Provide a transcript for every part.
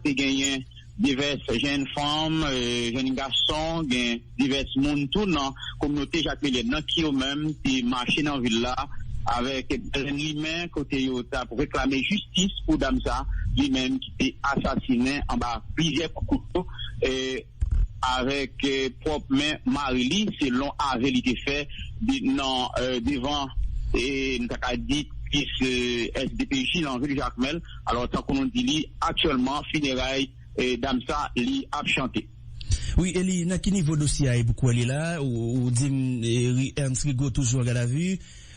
te genyen divès jenn fanm, jenn gason, gen divès moun tou nan kominote Jakmelen nan ki yo menm te mache nan vil la avèk balen limen kote yo t ap reklame jistis pou dam sa li menm ki te asasinen anba plizyè kout kouto. avèk pwòp men mari li, selon ave li te fè nan devan nou ta ka di plis SDPJ nan vil Jakmèl. Alò tankou nou di li aktyèlman fineray dam sa li ap chante. Wi e li nan ki nivo dosye a e pou kwè li la ou dim Ernst Rigaud toujou an gadavi.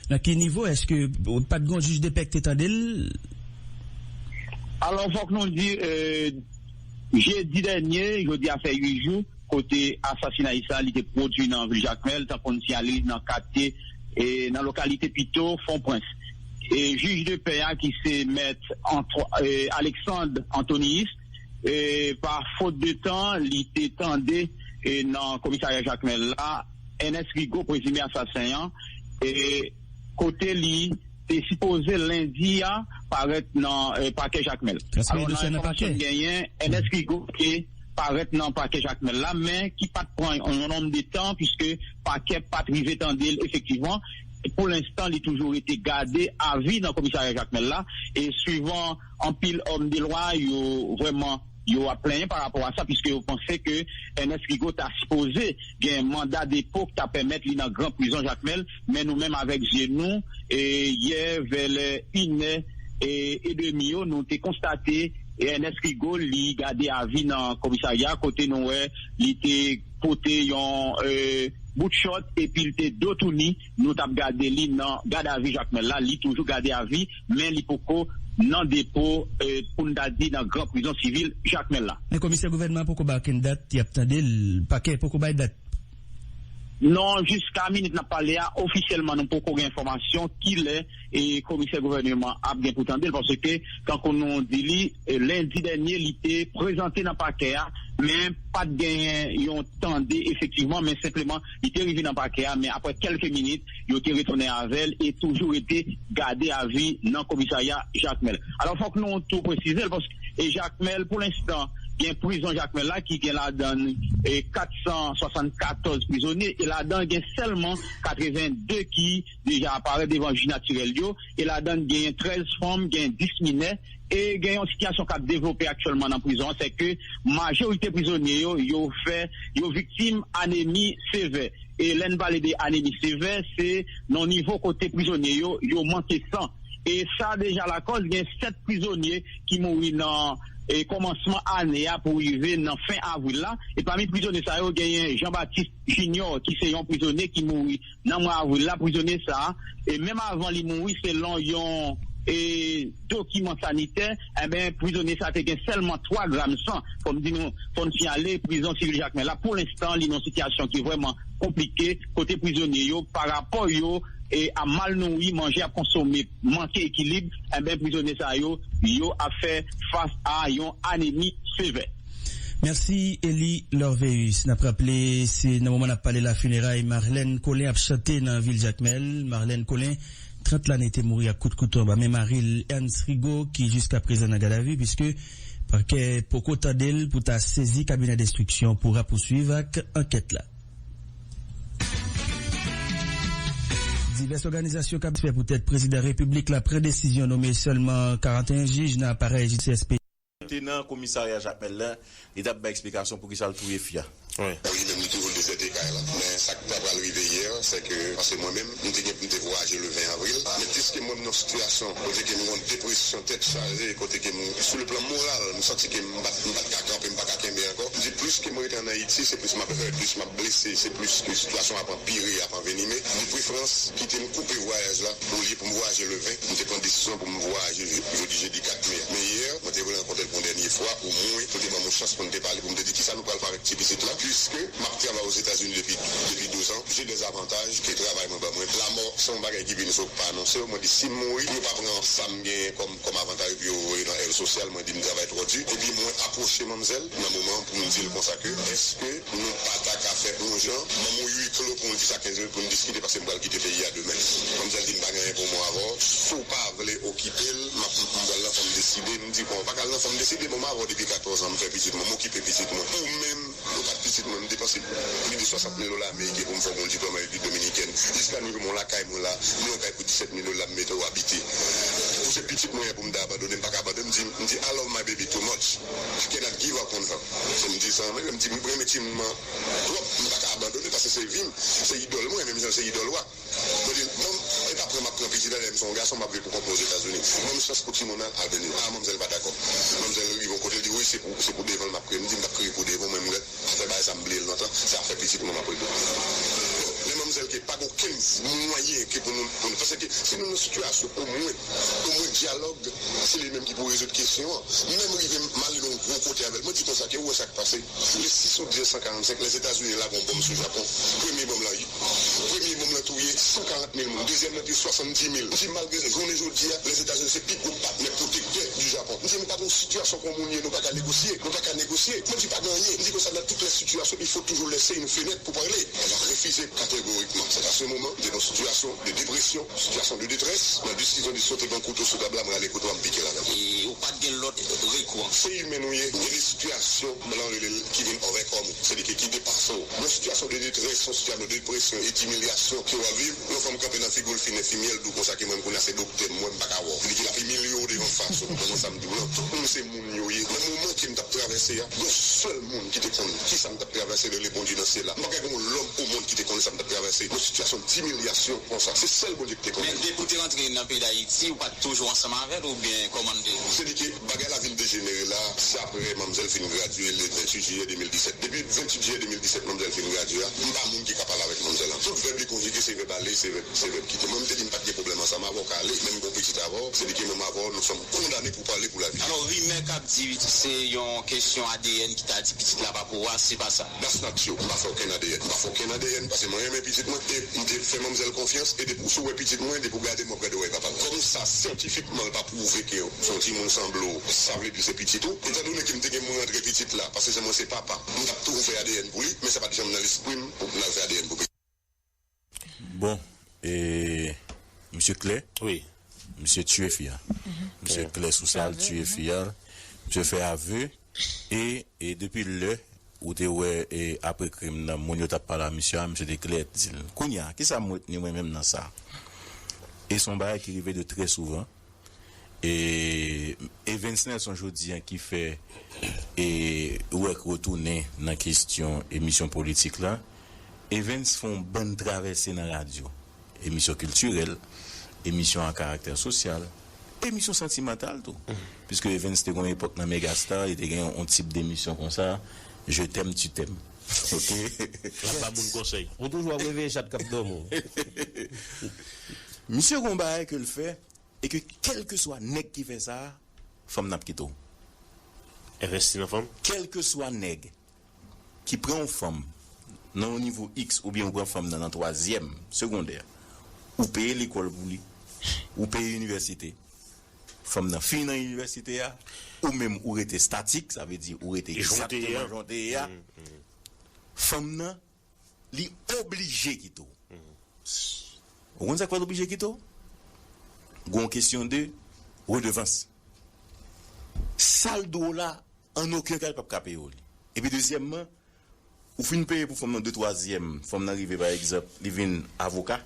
Nan ki nivo? Eske pat gon jij depè k te tande l? Alò fòk nou di jedi dènye, jodi a fè 8 jou kote asasinay sa li te pwodwi nan vil Jakmèl tankou n siyale li nan katye nan lokalite pito Fon Prens. Jij de pè a ki se mèt Alexandre Antoniyis pa fot de tan li te tande nan komisarya Jakmèl la. Ernest Rigaud, prezime asasen an, kote li te sipoze lendi a parèt nan pakè Jakmèl. Alò nan enfòmasyon n genyen, Ernest Rigaud te parèt nan pakè Jakmèl la men ki pat pran yon nonm de tan puiske pakè pat rive tande l efektivman. Pou lenstan li toujou rete gade avi nan komisarya Jakmèl la e swivan anpil òm de lwa yo vrèman. Yo ap plenyen pa rapò a sa piske yo panse ke Ernest Rigaud ta sipoze gen manda depo k ta pèmèt li nan gran prizon Jakmèl men nou menm avèk zye nou yè vè lè inè edemi yo nou te konstate Ernest Rigaud li gade avi nan komisarya kote nou wè li te pote yon bout chòt epi l te dotouni. Nou tap gade li nan gad avi Jakmèl la, li toujou gade avi men li poko nan depo pou n ta di nan gran prizon sivil Jakmèl la. Men komisè gouvènman an poko bay okenn dat yap tande l, pakè poko bay dat. Non, jiska minit nap pale a ofisyèlman nou poko gen enfòmasyon kilè komisè gouvèneman an ap gen pou tande l paske tankou nou di li lendi dènye li te prezante nan pakè a men pat genyen yon tande efektivman men senpleman Li te rive nan pakè a men aprè kèlke minit yo te retounen avè l e toujou rete gade a vi nan komisarya Jakmèl. Alò fòk nou tou presize l paske e Jakmèl pou lenstan gen prizon Jakmèl la ki gen ladan l 474 prizonye e ladan l gen sèlman 82 ki deja aparèt devan jij natirèl yo e ladan l genyen 13 fanm, genyen 10 minè e gen yon sitiyasyon k ap devlope aktyèlman nan prizon an sèke majorite prizonye yo yo fè yo viktim anemi sevè e lè n pale de anemi sevè se nan nivo kote prizonye yo yo manke san e sa deja lakòz gen 7 prizonye ki mouri nan kòmansman ane a pou rive nan fen avril la e pami prizonye sa yo genyen Jean Baptiste Junior ki se yon prizonye ki mouri. nan mwa avril la prizonye sa e menm avan li mouri selon yon dokiman sanitè enben prizonye sa te gen sèlman 3 gram san fòm di nou fòn siyale prizon sivil jakmèl la pou lenstan li nan sitiyasyon ki vrèman konplike kote prizonye yo pa rapò yo a mal nouri manje ap konsome manke ekilib enben prizonye sa yo yo ap fè fas a yon anemi sevè. Merci Eli Lorveus. Nap raple se nan moman nap pale la funeray Marlène Colin ap chante nan vil Jakmèl. Marlène Colin, 30 lane te mouri ak kout kouto anba men mari l Ernst Rigaud ki jiskaprezan nan gadavi puiske pakè poko tande l pou ta sezi kabinè denstriksyon pou rapousuiv ak ankèt la. Divès òganizasyon kap satisfè poutèt prezidan repiblik la pran desizyon nome sèlman 41 jij nan aparèy jistis. te nan komisarya jakmèl la li tap bay eksplikasyon poukisa l touye fi a. Bon li menm li toujou dezète kay lan men sak ta pral rive yè sè ke paske mwen menm m te gen pou m te vwayaje le 20 avril men piske mwen m nan sitiyasyon kote ke m gon depresyon tèt chaje kote ke m sou le plan moral m santi ke m pat m pat ka kanpe m pa ka kenbe ankò m di plis ke m rete an ayiti se plis map hurt plis map blese se plis ke sitiyasyon ap anpire ap anvenime de preferans kite m koupe vwayaj la olye pou m vwayaje le 20 m te pran desizyon pou m M vwayaje jodi jedi 4 me. Men yè, mwen te vle rankontre l pou yon dènye fwa, omwen pou l te ban m yon chans pou n te pale, pou m te di kisa nou pral fè avèk ti pitit lan, puiske m ap travay Ozetazini depi depi 12 an, je dè avantaj ke travay mwen ban mwen. Lamò se yon bagay ki vini sou pa anonse yo, mwen di si m mouri pou yo pa pran sa m genyen kòm kòm avantaj pou yo voye nan èv sosyal, mwen di m travay twò di, epi mwen apwoche manmzèl. nan moman pou m di l konsa ke eske nou pa ta ka fè on jan banm on ui klo pou on 10 a 15 minit pou n diskite paske m pral kite peyi a demen. Manmzèl di m pa gen anyen pou mwen avè w si w pa vle okipe l m ap m pral nan fanm deside m di kon w pa ka al nan fanm deside bon m avè w depi 14 an m fè pitit mwen m okipe pitit mwen ou menm ou pa t pitit mwen m depanse pli de 60 mil dola ameriken pou m fè w on diplòm an repiblik dominikèn jiska nou jwenn on lakay mwen la gen on kay pou 17 mil dola m mete w abite ou se pitit mwen pou m ta abandone m pa ka abandone m di m di I love my baby too much. I cannot give up on her fò m di sa anmweyy m di m renmen ti moun an twòp m paka abandone paske se vim se idòl mwen menm jan l se idòl ou a mwen di l mom e pa pran map pran pitit alèm son gason map viv pou kont mwen ozetazini banm chans pou timoun an al beny a manmzèl pa dakò manmzèl rive yon kote l di wi se pou se pou devan l map kriye m di m tap kriye pou devan w menm lè Mwen fè bagay sa m bliye l lontan, se afè pitit mwen m ap regle. Bon, men manmzèl ke pa gen okenn mwayen ke pou nou, pou nou, pase ke si nou nan sitiyasyon omwen, omwen dyalòg, se li menm ki pou rezoud kesyon an. Menm rive m ale nan yon gwo kote avè l, mwen di konsa ke ou wè sa k pase le 6 out 1945 lè Etazini lage yon bonm sou Japon, premye bonm lan, Premye nonm lan touye 140 mil moun, dezyèm lan te 70 mil. M di malgre sa, jounen jodi a, Lèzetazini se pi gwo patnè pwotektè di Japon. M di nou pa gen yon sitiyasyon kon moun ye nou pa ka negosye, nou pa ka negosye. Mwen di pa gen anyen. M di konsa nan tout lè sitiyasyon il fo toujou lèse yn fenèt pou pale. Mwen ap refize kategorikman. Se pase moman m te nan yon sitiyasyon de depresyon, sitiyasyon de detrès, nan desizyon de sote ban kouto sou tab la, m rale kouto a m pike ladan l. E ou pa t gen lòt rekou anko? Se imen nou ye, gen de sitiyasyon Blan rele l ki vin ovèkòm ou, se li ki ki depase w. Yon sitiyasyon de detrès, yon sitiyano depresyon e dimilyasyon ke w ap viv, yon fanm kanpe nan figu l fin enfimyè l di w konsa ke menm kounya se doktè m wè m pa ka wè w. Li ki l ap imilye w devan fas ou. Manman sa m di w lan, tout moun se moun yo ye. Nan moman ke m t ap travèse a, yon sèl moun ki te konn kisa m t ap travèse rele Bondye nan syèl la. M pa kwè gen yon lòm o mond ki te konnen sa m t ap travèse, yon sitiyasyon dimilyasyon konsa. Se sèl Bondye ki te konnen. Men depi w te rantre nan peyi Dayiti, ou pa t toujou ansanm avè l oubyen kòman l te? Se li ke Bagay la vin dejenere la, se aprè manmzèl fin gradye le 28 jiyè 2017. Depi 28 jiyè 2017 manmzèl fin gradye a, m pa moun ki ka pale avèk manmzèl an. Tout vèb li konjige se vèb ale, se vèb se vèb kite. Mwen m te di m pa t gen pwoblèm ansanm avè w ka ale, men m gen yon pitit avè w, se li ki manm avè w, nou sèm kondane pou pale pou lavi. Alò rimè k ap di se yon kesyon adn ki ta di pitit la pa pou ou a, se pa sa? That's not true. M pa fè okenn adn. M pa fè okenn adn paske mwen renmen pitit mwen e m te fè manmzèl konfyans e depi w sou wè pitit mwen, depi w gade m w ap gade wòy papa l. Kòm sa syantifikman l pa pwouve ke Son timoun sanble w sa vle di se pitit ou? Etan done ke m te gen m rantre pitit la pase jan mwen se papa m tap toujou fè adn pou li men sa pat janm nan lespri m pou m al fè adn pou pitit. Bon e misye klè wi misye tiye fi a misye klè sou sa l tiye fi a misye fè ave e e depi lè ou te wè e apre krim nan moun yo tap pale a misye a misye te klè di l kounya kisa m retni mwen menm nan sa e son bagay ki rive de trè souvan. E Evens Nelson jodi an ki fè e Werck retounen nan kestyon emisyon politik la. Evens fè yon bann travèse nan radyo. Emisyon kiltirèl, emisyon a karaktè sosyal, emisyon santimantal tou. Piske Evens te gen yon epòk nan Megastar, li te gen yon tip demisyon konsa, Je t'aime, tu t'aimes. Ok lap ba moun konsey. Ou toujou ap reve chat kap domi w. Misye gon bagay ke l fè e ke kelkeswa nèg ki fè sa fanm nan ap kite w. Envesti nan fanm? Kelkeswa nèg ki pran yon fanm nan yon nivo X oubyen ou pran fanm nan nan twazyèm segondè ou peye lekòl pou li ou peye inivèsite Fanm nan fin nan inivèsite a, ou menm ou rete statik, sa vle di ou rete egzakteman jan w te ye a, fanm nan li oblije kite w. Ou konn sa k fè l oblije kite w? Gen yon kesyon de redevans. Sa l dwe w la, an oken ka li p ap ka peye w li. Epi dezyèmman, ou fin peye pou fanm nan de twazyèm, fanm nan rive pa egzanp li vin avoka,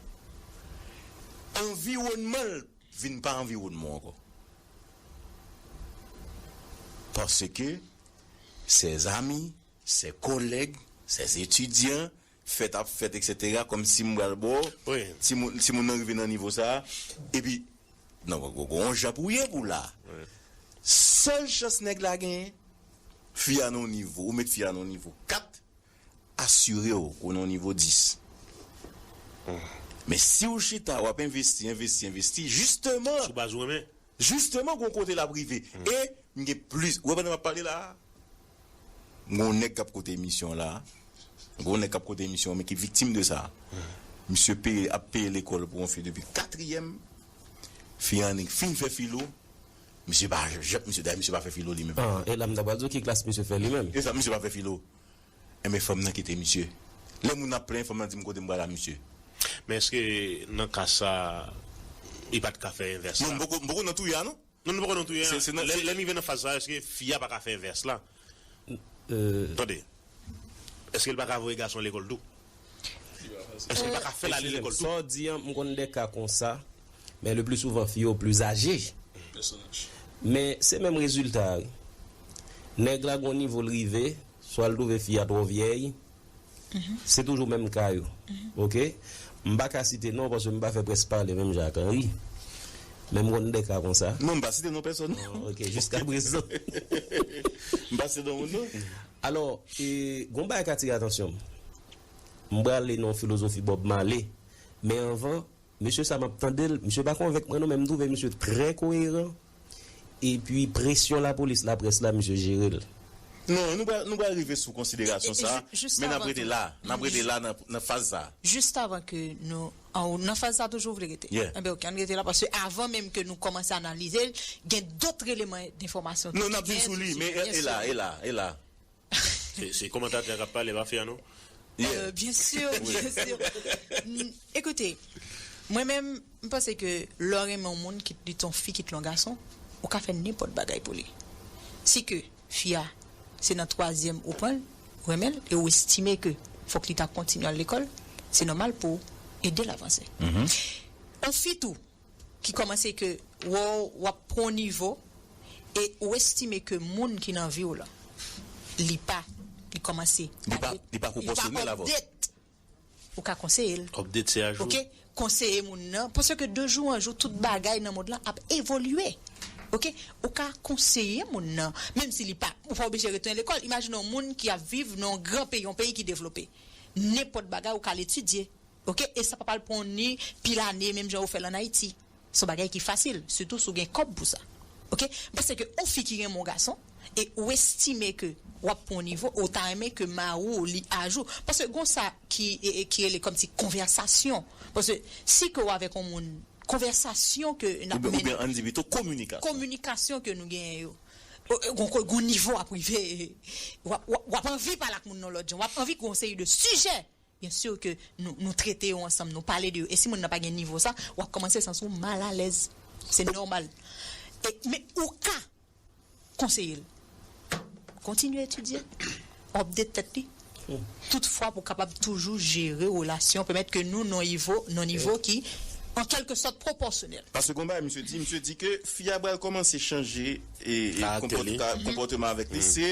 anviwònman l, vin pa anviwònman w ankò paske sè zami, sè kòlèg, sè etidyan fèt ap fèt eksetera kòm si m pral ba w ti moun ti moun nan rive nan nivo sa a epi nan w gen yon jan pou w ye pou w la sèl chans nèg la genyen fi a nan yon nivo ou met fi a nan yon nivo 4 Asire w ou nan nivo 10. Men si w chita w ap envesti, envesti, envesti, jisteman. Sou baz ou renmen. Jisteman gen yon kote l ap rive. E m gen plis. Ou wè pandan m ap pale la a, m gen yon nèg k ap koute emisyon an la a. M gen yon nèg k ap koute emisyon an men ki viktim de sa. Misye peye, ap peye lekòl pou yon fi depi katriyèm. Fi an annik fin fè filo. Misye pa, misye dayè misye pa fè filo li menm. E la m ta pral di w ki klas misye fè li menm. E sa, misye pa fè filo. Enben fanm nan kite misye. Lè moun ap plenyen fanm nan di m kote m pral a misye. Men eske nan ka sa li pat ka fè envès la? Non m poko nan touye a non. Non nou poko nan touye a. Lè n rive nan faz sa eske fi a paka fè envès la? Tande. Eske li paka voye gason lekòl tou? Eksizem, sa w di an, m konn de ka konsa, men le pli souvan fi yo pli aje. Men se menm rezilta a wi. Nèg la gon nivo l rive, swa l twouve fi a twò vyèy, se toujou menm ka yo. Ok. M pa ka site non paske m pa fè près pale menm jan ak Henry, men m konn de ka konsa. Non, m pa site non pèsòn. Ok, jiskaprezan. M pa site non moun non. Alò, e, gen yon bagay k atire atansyon m. M prale nan yon filozofi Bob Marley, men anvan, mesye sa a m ap tande l, misye pa konvenk mwen non, men m twouve misye trè koyeran, epi presyon lapolis, laprès la, misye jere l. Non, nou pral, nou pral rive sou konsiderasyon sa a, men n ap rete la a, n ap rete la a nan faz sa a. Jistavan ke nou An ou nan faz sa toujou ou vle rete? Yeah. Enben ok, ann rete la paske avan menm ke nou kòmanse analize l, gen dotr eleman denfòmasyon tou ki gen. Non, n ap vin sou li, men e la, e la, e la. Se kòmantatè a k ap pale, e pa fi a non. Yeah. Byen sur, byen sur. Ekoute, mwen menm, m panse ke lè w renmen yon moun, kit li t yon fi, kit l yon gason, ou ka fè nenpòt bagay pou li. Si ke. Fi a, se nan twazyèm ou pran l, ou renmen l e ou estime ke fòk li ta kontinye al lekòl, se nòmal pou w ede l avanse. On fi tou, ki kòmanse ke wè w w ap pran w nivo e ou estime ke moun ki nan vi w lan, li pa, li kòmanse, Li pa, li pa pwopòsyonèl avè w. Li pa update Ou ka konseye l. Update se a jou. Ok konseye moun nan paske de jou an jou tout bagay nan mond lan ap evolye ok ou ka konseye moun nan menm si li pa ou pa oblije retounen lekòl imajine yon moun ki ap viv nan yon gran peyi yon peyi ki devlope nenpòt bagay ou ka al etidye ok e sa pa pral pran w ni pil ane menm jan ou fè l an Ayiti. Se yon bagay ki fasil, sitou si w gen kòb pou sa. Ok, m panse ke yon fi ki renmen yon gason e ou estime ke w ap pran yon nivo, ou ta renmen ke mari w li ajou. Paske gon sa ki ki rele kòmsi konvèsasyon. Paske si ke w avèk yon moun, konvèsasyon ke n ap mennen. Oubyen an n di pito kominikasyon. Kominikasyon ke nou genyen yo. Gon kote, gon nivo ap rive, w ap anvi pale ak moun nan yon lòt jan. W ap anvi gon seri de sijè Bien sûr que nou nou trete yo ansanm nou pale de yo e si moun nan pa gen nivo sa wap komanse sans ou mal alèz se normal e men ou ka konseyel kontinye etidye update tèt li tout fwa pou kapab toujou jere relasyon pèmèt ke nou non ivo non nivo ki an kèlke sòt pwopòsyonèl. Paske gon bagay misye di, misye di ke fi a pral kòmanse chanje e konpòte konpòteman avèk li se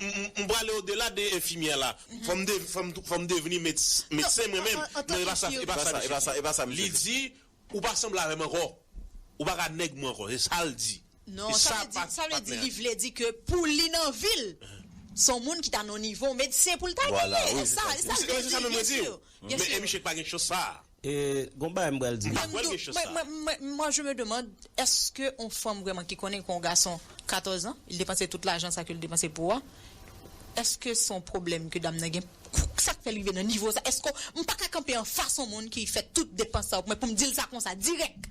M prale o dela de enfimyè la. Fò m devni medsen mwen menm. Non, e pa sa misye di. Li di, ou pa sanble avè m ankò. Ou pa ka nèg mwen ankò. Se sa l di. Non, sa vle di li vle di ke pou li nan vi l, se yon moun ki ta nan nivo medsen pou l ta genyen. E sa l vle di. Mwen se sa menm mwen di w. Men e misye ki pa gen chans sa a. E gon bagay m pral di nou. Mwen dou, mwen, mwen, mwen, mwen je me demande eske on fanm vrèman ki konnen kon gason 14 ans, li depanse tout lajan sa ke li depanse pou ou a, eske son pwoblèm ke dam nan gen, sak fèl rive nan nivo sa, eske, m paka kanpe anfas on moun ki fè tout depans sa pou mwen pou m dil sa konsa dirèk!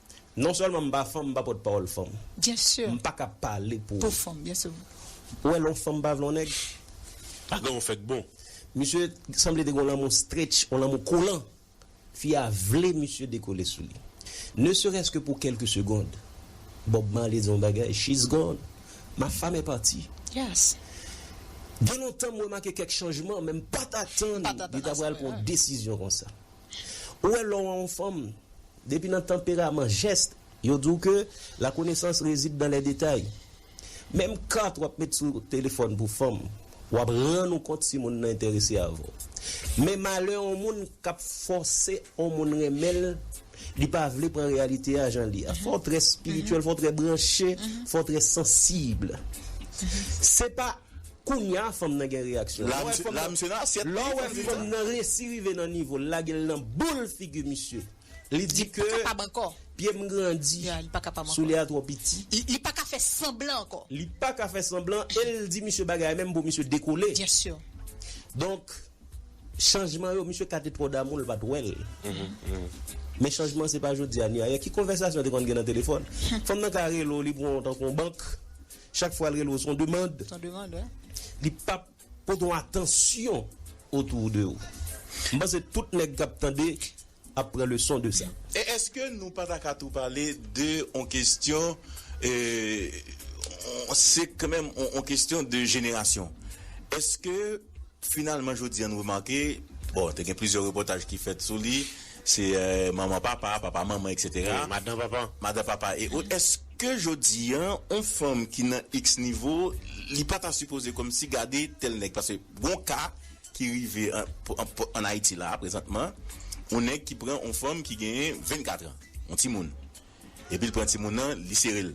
Non sèlman m pa fanm m pa pòt pawòl fanm m paka pale pou ou wè lè yon fanm pa vle yon nèg bagay yo fèk bon. Misye sanble te gen yon lanmou stretch yon lanmou kolan fi a vle misye dekole sou li ne serès ke pou kèlke segond Bob Marley di yon bagay she's gone ma femme est partie gen lontan m remake kèk chanjman men m pat atann li ta pral pran yon desizyon konsa ou wè lè w wè yon fanm. Depi nan tanperaman Geste, yo di w ke la konesans rezid dan lè detay. Menm kat w ap met sou telefòn pou fanm, w ap rann ou kont si moun nan enterese avè w. Men malè yon moun k ap fòse yon moun renmen l, li pa vle pran reyalite a jan li ye a. Fò w trè espirityèl, fò w trè branche, fò w trè sansib. Se pa. Kounya fanm nan gen reyaksyon. Lè w wè fanm nan Lè w wè fanm nan resi rive nan nivo l lage l nan boul figi misye. Li di ke Pye m grandi Soulye a twò piti. Li pa ka fè sanblan ankò. Li pa ka fè sanblan e l di misye bagay menm pou misye dekole. Donk chanjman yo misye ka te twò damou l pa t wè l. Men chanjman se pa jodi a ni ayè. Ki konvèsasyon te konn gen nan telefòn? Fanm nan ka rele w li pran w tankou yon bank. Chak fwa l rele w s on demand. S on demand wi. Li pa p pote yon atansyon otou de ou. M panse tout nèg k ap tande ap pran leson de sa. E eske nou pa ta ka tou pale de on kestyon eee se knmenm on kestyon de jenerasyon. Eske finalman jodi an nou remake bon te gen plizyè repòtaj ki fèt sou li. Se manman papa, papa manman eksetera. E madan papa. Madan papa e ot eske jodi an on fanm ki nan iks nivo li pa ta sipoze kòmsi gade tèl nèg paske gon ka ki rive an ayiti la prezantman on nèg ki pran on fanm ki genyen 24 tran on timoun epi l pran timoun nan li sere l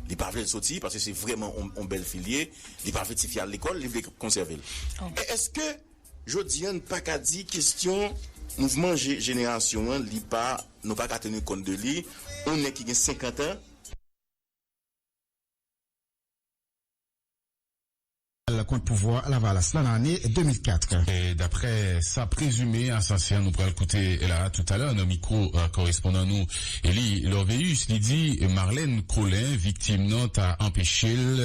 li pa vle l soti paske se vrèman on bèl fi l ye li pa vle tifi a al lekòl li vle konsève l eske. Jodi an n pa ka di kestyon mouvman jenerasyon an li pa nou pa ka tenu kont de li, on nèg ki gen 50 an. Al kont pouvwa lavalas la nan ane 2004. Daprè sa prezime asasen an nou pral koute la toutalè nan mikwo korespondan nou. Eli Lorvéus li di Marlène Colin viktim nan ta anpeche l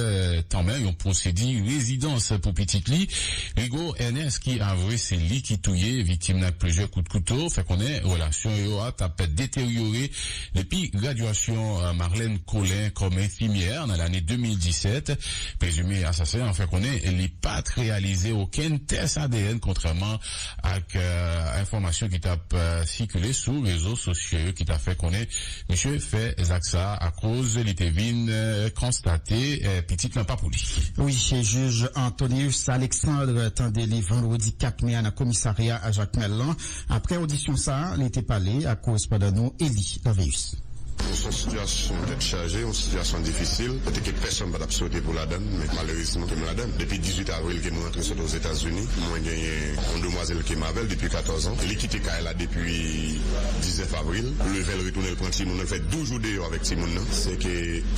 tanmen yon pwosedi rezidans pou pitit li Rigaud Ernest ki avwe se li ki touye viktim nan ak plizyè kout kouto fè konnen relasyon yo a t ap deteryore depi gradyasyon Marlène Colin kòm enfimyè nan lane 2017. Prezime asasen an fè konnen li pa t reyalize okenn tès adn kontrèman ak enfòmasyon ki t ap sikile sou rezo sosyo yo ki ta fè konnen misye fè zak sa a akoz li te vin konstate pitit lan pa pou li. Wi, jij Antonius Alexandre tande li vandredi 4 me a nan komisarya Jakmèl lan. Aprè odisyon sa a, li te pale ak korespondan nou Elie. Carius. Bon son sitiyasyon tèt chaje, yon sitiyasyon difisil kote ke pèsonn pa tap swete pou ladan l men malerezman kem ladan l. Depi 18 avril kem rantre sot Ozetazini mwen genyen yon demwazèl kem avèl depi 14 ans li kite kay la depi 19 avril pou leve l retounen l pran timoun nan l fè 12 jou deyò avèk timoun nan se ke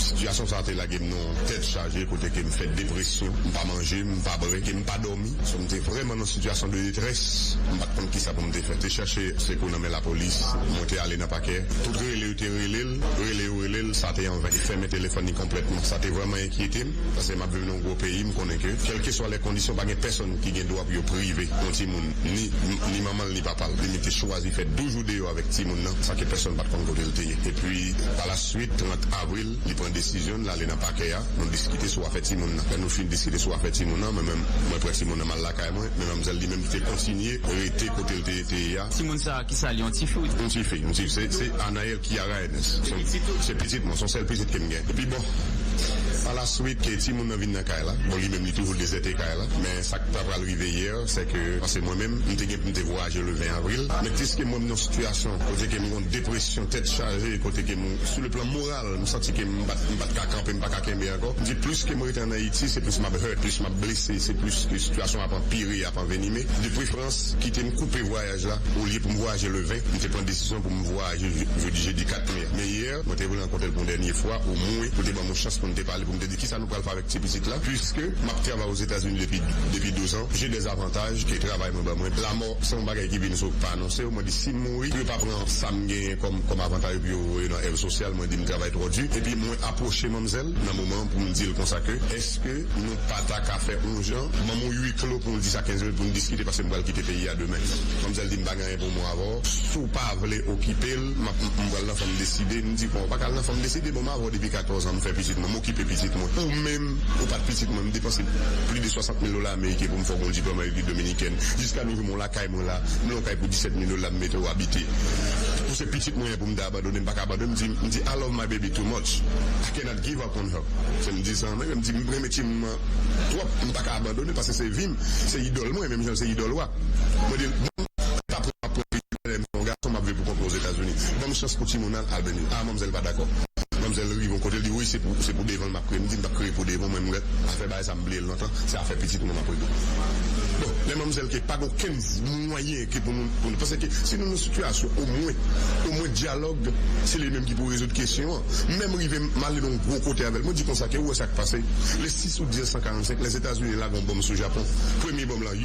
sitiyasyon sa te lage m nan yon tèt chaje kote kem fè depresyon m pa manje m pa bre kem pa dòmi so m te vrèman nan sitiyasyon de detrès m pat konn kisa pou m te fè te chache sekou nan Men lapolis monte ale nan pakè. Tout rele yo te rele l, rele yo rele l, sa te an ven. Li fèmen telefòn li konplètman. Sa te vrèman enkyete m, paske m ap viv nan yon gwo peyi, m konnen ke kèlkeswa lè kondisyon pa gen pèsonn ki gen dwa pou yo prive yon timoun ni ni manman l ni papa l. Li menm te chwazi fè 12 jou deyò avèk timoun nan san ke pèsonn pa t konn kote l te ye. Epi, palaswit, 30 avril, li pran desizyon n, l ale nan pakè a, nou diskite sou afè timoun nan. Lè nou fin diskite sou afè timoun nan, mwen menm, mwen pran timoun nan m al lakay mwen, men manmzèl li menm te kontinye rete kote l te ye a. Ti moun sa ki sal yon tifi ou t. Yon ti fi yon ti fi se Anaëlle Kiara Ernest se pitit mwen son sèl pitit kem gen epi bon pa la swit ke ti moun nan vin nan kay la bon li menm li toujou dezète kay la men sak ta pral rive yè se ke pase mwen menm m te gen poum te vwayaje le 20 avril men piske mwen m nan sitiyasyon kote ke m gon depresyon tèt chaje kote ke m sou le plan moral m santi ke m pat m pat ka kanpe m paka kenbe ankò m di plis ke m rete an Ayiti se plis map hurt plis map blese se plis ke sitiyasyon ap anpire. ap anvenime. De prefrans, kite m koupe vwayaj la. Olye pou m vwayaje le 20, m te pran desizyon pou m vwayaje jodi jedi 4 me a. Men yè, mwen te vle rankontre l pou yon dènye fwa, omwen pou l te ban m yon chans pou n te pale, pou m te di kisa nou pral fè avèk ti pitit la. Piske m ap travay Ozetazini depi depi douzan, je dè zavantaj ke travay mwen ban mwen. Lamò se yon bagay ki vin sou pa anonse yo. Mwen di si m mouri, pou yo pa pran sa m genyen kòm kòm avantaj epi yo voye nan èv sosyal. Mwen di m travay twò di. Epi mwen apwoche manmzèl nan moman an pou m di l konsa ke, èske. nou pa ta ka fè on jan, ban m'on ui klo pou nou di sa 15 minit pou nou diskite paske m'pral kite peyi a demen. Manmzèl di m'pa gen anyen pou m'en avè w, si w pa vle okipe l, m'ap m'pral nan fanm deside, m'di kon w pa ka al nan fanm deside, bon m'avè w depi 14 an, m'fè pitit mwen, m'okipe pitit mwen, ou menm ou pat pitit mwen, m'depanse pli de 60 mil dola ameriken pou m'fè w gon diplòm an repiblik dominikèn, jiska nou jou m'on lakay mwen la, m'lè on kay pou 17 mil dola m'mete w abite, ou se pitit mwen pou m'ta abandone m'pa ka abandone, m'di m'di I love my baby too much, I cannot give. Pornhub fè m di sa mwen menm di m renmen ti moun an twòp m paka abandone l paske se vi m se idòl mwen menm jan l se idòl wa mwen di l bon m ta pran m ap pran li tou lè m se yon gason m ap viv pou kont mwen ozetazini ban m chans pou ti moun an al beny a manmzèl pa dakò manmzèl rive yon kote l di woy se pou devan l m ap kriye m di m p ap kriye pou devan w mwen m rèt afè bagay sa m bliye l lontan se afè pitit mwen m ap regle bon lè manmzèl ke pa gen okenn mwayen. anyen ke pou nou pou nou paske si nou nan sitiyasyon omwen omwen dyalòg se li menm ki pou rezoud kesyon an menm rive m ale nan yon gwo kote avèl mwen di konsa ke ou wè sa k pase le 6 out 1945 lèzetazini lage yon bonm sou japon premye bonm lan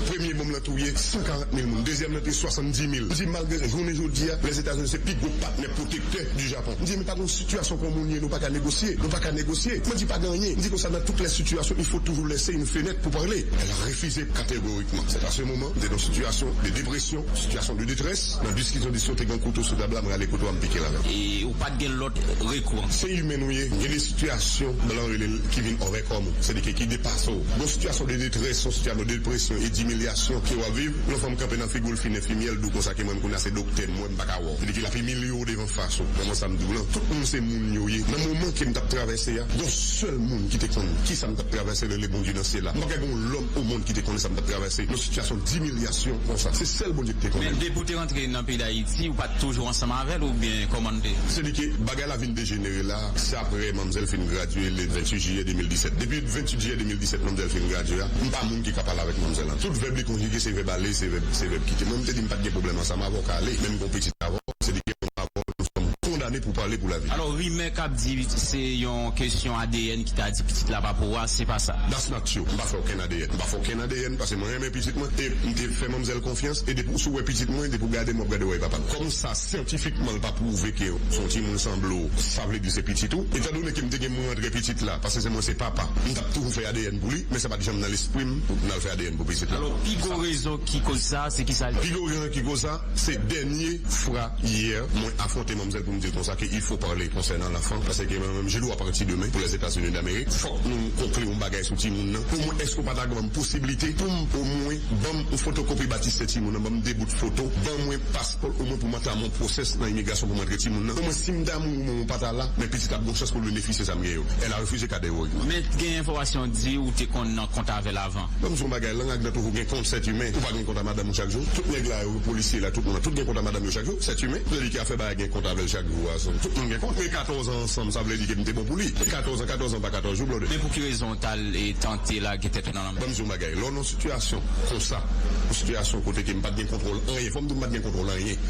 premye bonm lan touye 140 mil moun dezyèm lan touye 70 mil m di malgre jounen jodi a lèzetazini se pi gwo patnè pwotektè di japon m di men pa gen yon sitiyasyon kon moun ye nou pa ka negosye nou pa ka negosye mwen di pa gen anyen m di konsa nan tout lè sitiyasyon il fo toujou lèse yon fenèt pou pale el a refize kategorik. Istourikman, sèt aswe moman m te nan sitiyasyon de depresyon, sitiyasyon de detrès, nan diski kondisyon te gen kouto sou tab la, m rale kouto a m pike ladan. E ou pa t gen lòt rekou an. Se imen ou ye, gen de sitiyasyon, blan rele l, ki vin òvèkòm ou, sèdike ki depase w. Gon sitiyasyon de detrès, yon sitiyasyon de depresyon e dimilyasyon ke w ap viv, yon fanm kanpe nan figu l fin enfimyè l di w konsa ke menm kounya se doktè m wè m pa ka wè w. Sèdike l ap imilye w devan fas ou. Manman sa m di w lan, tout moun se moun yo ye. Nan moman ke m t ap travèse a, gon sèl moun ki te konn kisa m t ap travèse rele Bondye nan syèl la. M pa kwè gon lòm. Ou moun ki te konnen sa m t ap travèse yon sitiyasyon dimilyasyon konsa? Se sèl Bondye ki te konnen. Men depi w te rantre nan peyi Dayiti, ou pa t toujou ansanm avè l oubyen kòman l te? Se li ke bagay la vin dejenere la, se aprè manmzèl fin gradye le 28 jiyè 2017. Depi 28 jiyè 2017 manmzèl fin gradye a, m pa moun ki ka pale avèk manmzèl an. Tout vèb li konjige se vèb ale, se vèb se vèb kite. Mwen m te di m pa t gen pwoblèm ansanm avè w, ka ale. Men m gen yon pitit avè w, se li ki ansanm avè w, nou sòm kondane pou pale pou lavi. Alò rimè k ap di se yon kesyon adn ki ta di pitit la pa pou ou a, se pa sa? Ak yo, m pa fè okenn adn. M pa fè okenn adn pase mwen renmen pitit mwen e m te fè manmzèl konfyans e depi w si w wè pitit mwen depi w gade m w ap gade wòy papa l. Kòm sa syantifikman l pa pwouve ke se yon timoun sanble w sa vle di se pitit ou. Etandone ke m te gen m rantre pitit la pase se mwen se papa m t ap toujou fè adn pou li men sa pa t janm nan lespri m pou m al fè adn pou pitit la. Alò pi gwo rezon ki koz sa se kisa? Pi gwo rezon ki koz sa se dènye fwa yè mwen afwonte manmzèl pou m di l konsa ke il fo parle konsènan lanfan pase ke Je nou ap ranti demen pou Lèzetazini Damerik. Fòk nou konkli yon bagay sou timoun nan. Omwen èske ou pa ta banm posibilite poum omwen banm yon fotokopi batistè timoun nan, banm 2 bout foto, ban mwen paspò l omwen poum antame yon pwosès nan imigrasyon poum antre timoun nan. Omwen sim damou ou men ou pa ta la, men pitit la ap gon chans poul benefisye sa m gen yo. Elle a refusé categoriquement. Men t gen enfòmasyon di ou te konn nan kont avèl avan. Banm di w yon bagay lang ak dan toujou gen kont sèt imen ou pa gen kont a madanm ou chak jou tout nèg la yo polisye la tout moun lan tout gen kont a madanm yo chak jou sèt imen se li ki ap fè bagay gen kont avèl chak jou a tout moun gen kont. 14 an ansanm sa vle di ke m te bon pou li. 14 an 14 an pa 14 jou blode. Men pou ki rezon ou t al tante lage tèt ou nan lanmè? Ban m di w yon bagay, lè w nan sitiyasyon konsa, yon sitiyasyon kote ke m pa t gen kontwòl anyen, fò m di m pa t gen kontwòl anyen,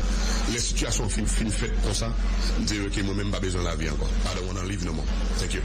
lè sitiyasyon an fin fin fèt konsa, m di yo ke mwen menm m pa bezwen lavi ankò. Pardon, w nan live no more. Thank you.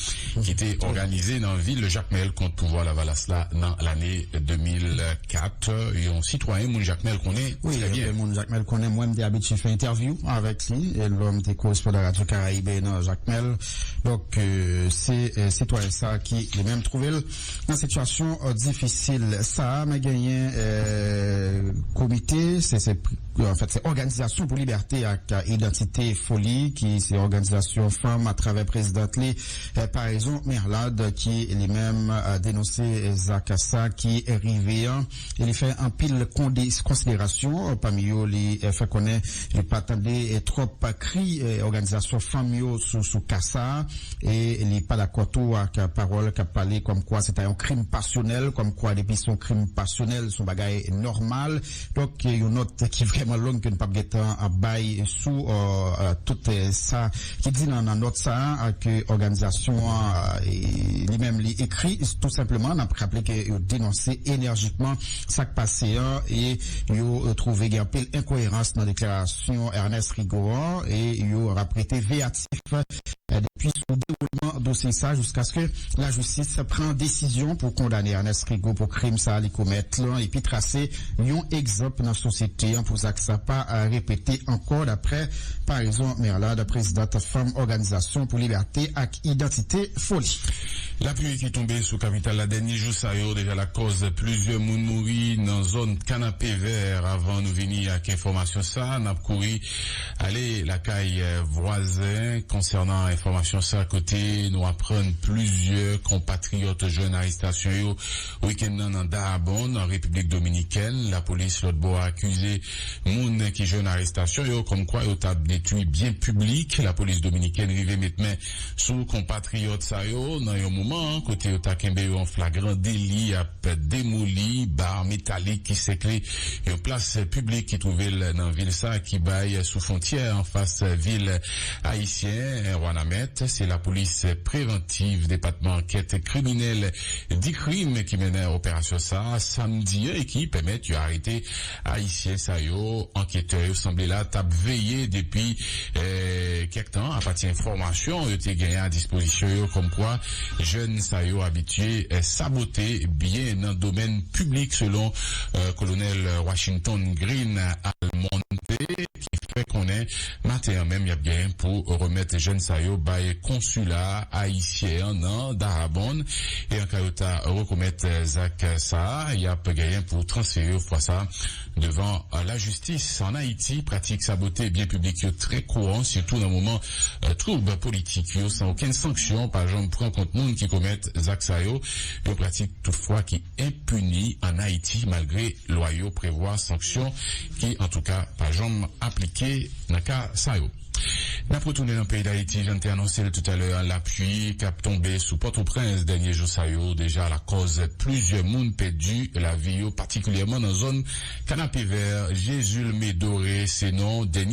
ki te òganize nan vil Jakmèl kont pouvwa Lavalas la nan lane 2004. Yon sitwayen moun Jakmèl konnen trè byen. Moun Jakmèl konnen mwen. M te abitye fè entèvyou avèk li lò m te korespondan Radyo Karaibe nan Jakmèl. Donk, se sitwayen sa a ki li menm twouve l nan sitiyasyon difisil sa a. Men genyen komite. Anfèt, se Òganizasyon pou Libète ak Idantite, FOLI, ki se òganizasyon fanm atravè prezidant li, Paraison Merlard, ki li menm denonse zak sa ki rive an e li fè anpil konsiderasyon, pami yo li fè konnen li pa tande twòp kri òganizasyon fanm yo sou ka sa e li pa dakò tou ak pawòl k ap pale kòmkwa se ta yon krim pasyonèl, kòmkwa depi se yon krim pasyonèl se yon bagay nòmal. Donk yon nòt ki vrèman long ke n pap gen tan ap bay sou tout sa ki di nan nòt sa a ke òganizasyon an li menm li ekri tou senpleman. N ap raple ke yo denonse enèjikman sa k pase an e yo twouve gen anpil enkoyerans nan deklarasyon Ernest Rigaud an e yo ap rete veyatif Depi sou dewoulman dosye sa jiskaske lajistis pran desizyon pou kondane Ernest Rigaud pou krim sa li komèt lan epi trase yon egzanp nan sosyete an pou zak sa pa repete ankò daprè Paraison Merlade prezidant Fanm Òganizasyon pou Libète ak Idantite Foli. Lapli ki tonbe sou kapital la dènye jou sa yo deja lakòz plizyè moun mouri nan zòn Kanapevè. Avan nou vini ak enfòmasyon sa, n ap kouri Ale lakay vwazen konsènan enfòmasyon sa kote nou aprann plizyè konpatriyòt jwenn arestasyon yo wikenn nan nan Dahabon nan Repiblik Dominikèn. Lapolis lòt bò a akize moun ki jwenn arestasyon yo kòmkwa yo t ap detwi byen piblik. Lapolis dominikèn rive met men sou konpatriyòt sa yo nan yon moman kote yo ta kenbe yo an flagran deli ap demoli bar metalik ki sèkle yon plas piblik ki twouve l nan vil sa ki bay sou fwontyè anfas vil ayisyen Wanament. Se lapolis prevantiv depatman ankèt kriminèl Dicrim ki mennen operasyon sa samdi an e ki pèmèt yo arete Ayisyen sa yo, anketè yo sanble la t ap veye depi kèk tan apati enfòmasyon yo te genyen a dispozisyon yo kòmkwa jèn sa yo abitye sabote byen nan domèn piblik, selon Kolonèl Washington Green Almonte. ki fè konnen maten an menm y ap gen pou remèt jèn sa yo bay konsila ayisyen an nan Daraban e an ka yo ta rekomèt zak sa a y ap genyen pou transfere yo fwa sa devan lajistis. An Ayiti, pratik sabote byen piblik yo trè kouran sitou nan moman twoub politik yo san okenn sanksyon pa janm pran kont moun ki komèt zak sa yo, yon pratik toutfwa ki. enpini an Ayiti malgre lwa yo prevwa sanksyon ki antouka pa janm aplike nan ka sa yo. N ap retounen nan peyi Dayiti, jan n te anonse l toutalè a, lapui k ap tonbe sou Pòtoprens dènye jou sa yo deja lakòz plizyè moun pèdi lavi yo patikilyèman nan zòn Kanapevè, Jézulme Doré se non dènye.